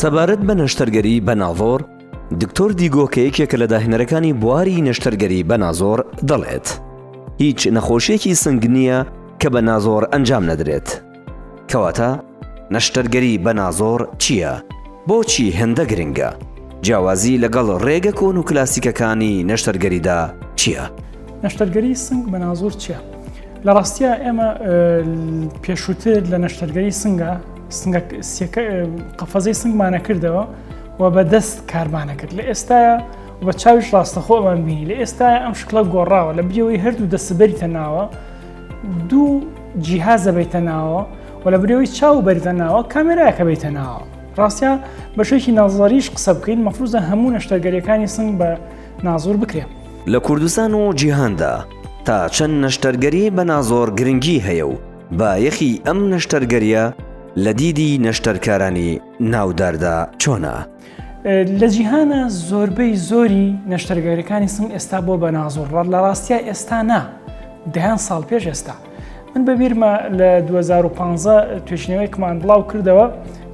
سەبارەت بە نەشتەرگەری بەناڤۆر، دکتۆر دیگۆ کە یەکێکە لە داهێنەرەکانی بواری نەشتەرگەری بەنازۆر دەڵێت، هیچ نەخۆشییەکی سنگ نییە کە بە نازۆر ئەنجام نەدرێت. کەواتە نەشتەرگەری بەنازۆر چییە؟ بۆچی هێندە گرنگە؟ جیاوازی لەگەڵ ڕێگە کۆن و کلاسیکەکانی نەشتەرگەریدا چییە؟ نەشتەرگەری سنگ بەنازۆر چییە؟ لە ڕاستیە ئێمە پێشووتر لە نەشتەرگەری سنگە قەفەزەی سنگمانە کردەوە و بە دەست کارمانە کرد لە ئێستاە بە چاویش ڕاستەخۆمان بینی لە ئێستا ئەم شکڵە گۆڕاوە لە بریەوەی هەردوو دەسبەریتە ناوە دوو جیهازە بیتە ناوە و لە برەوەی چاو بەریتە ناوە کامێراکە بیتە ناوە ڕاستە بەشێکی نازڵریش قسە بکەین مەفروزە هەموو نەشتەرگەریەکانی سنگ بە نازۆر بکرێن. لە کوردستان و جیهاندا تا چەند نەشتەرگەری بە نازۆر گرنگی هەیە و بایەخی ئەم نەشتەرگەریە لە دیدی نەشتەرکارانی ناوداردا چۆنە؟ لە جیهانە زۆربەی زۆری نەشتەرگەرەکانی سنگ ئێستا بۆ بە نازۆر ڕەت لە ڕاستە ئێستا نا دەیان ساڵ پێش ئێستا من بە بیرمە لە 2015 توێژینەوەیکمان بڵاو کردەوە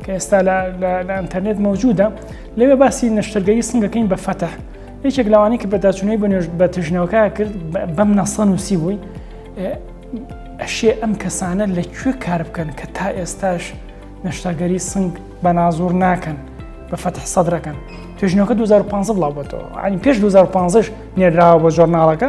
کە ئێستا لە ئەتەرنێت مەوجودە لەوێ باسی نەشتەرگەری سنگەکەین بە فەتە یەکێک لەوانی کە بەداچوونەی بە نوێژ بە تژنەوەکە کرد بەم نەسەن و سی بووی ئەشێ ئەم کەسانە لە کوێ کار بکەن کە تا ئێستاش نەشتەرگەری سنگ بە نازور ناکەن بە فەتح سەدرەکەن توێژنەکە 2015 بڵاوبێتەوە ئەنی پێش 2015 نێراوە بە جۆرناڵەکە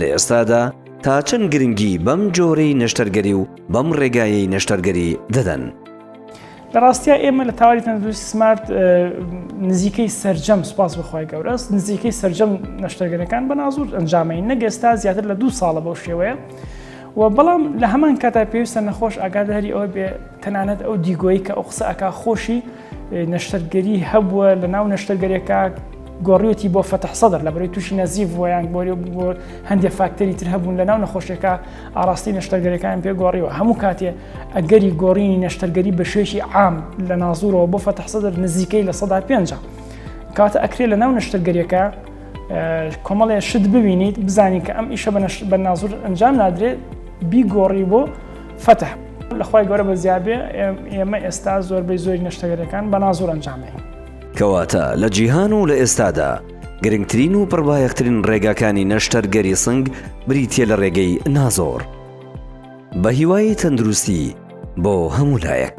لە ئێستادا تا چەند گرنگی بەم جۆرەی نەشتەرگەری و بەم ڕێگایەی نەشتەرگەری دەدەن؟ لە ڕاستیا ئێمە لە تاواری تەندروستی سمارت نزیکەی سرجەم سوپاس بخوای گەورەس نزیکەی سرجەم نەشتەرگەرەکان بە نازور ئەنجامەی نەگەستا زیاتر لە دوو ساڵە بەو شێوەیە. و بەڵام لە هەمان کاتا پێویستە نەخۆش ئاگاداری ئەوە بێ تەنانەت ئەو دیگۆی کە ئەو قسە ئەک خۆشی نەشتەرگەری هەبووە لە ناو نەشتەرگەرێکە گۆڕیوەتی بۆ فەتح سەدر لە بەرەی تووشی نەزیف ویان گۆری بۆ هەندێک فاکتەری تر هەبوون لە ناو نەخۆشیەکە ئاراستی نەشتەرگەرەکان پێ گۆڕیوە هەموو کاتێ ئەگەری گۆڕینی نەشتەرگەری بە شێشی عام لە نازورەوە بۆ فەتح سەدر نزیکەی لە سەدا پێنج کاتە ئەکرێ لە ناو نەشتەرگەریەکە کۆمەڵێ شت ببینیت بزانین کە ئەم ئیشە بە نازور ئەنجام نادرێت بیگۆڕی بۆ فتح لە خوای گەورە بە زیابێ ئێمە ئێستا زۆربەی زۆری نەشتەگەرەکان بە نازۆر ئەنجامەین. کەواتە لە جیهان و لە ئێستادا گرنگترین و پڕبایەخترین ڕێگاکانی نەشتەرگەری سنگ بریتیە لە ڕێگەی نازۆر. بە هیوای تەندروستی بۆ هەموو لایەک.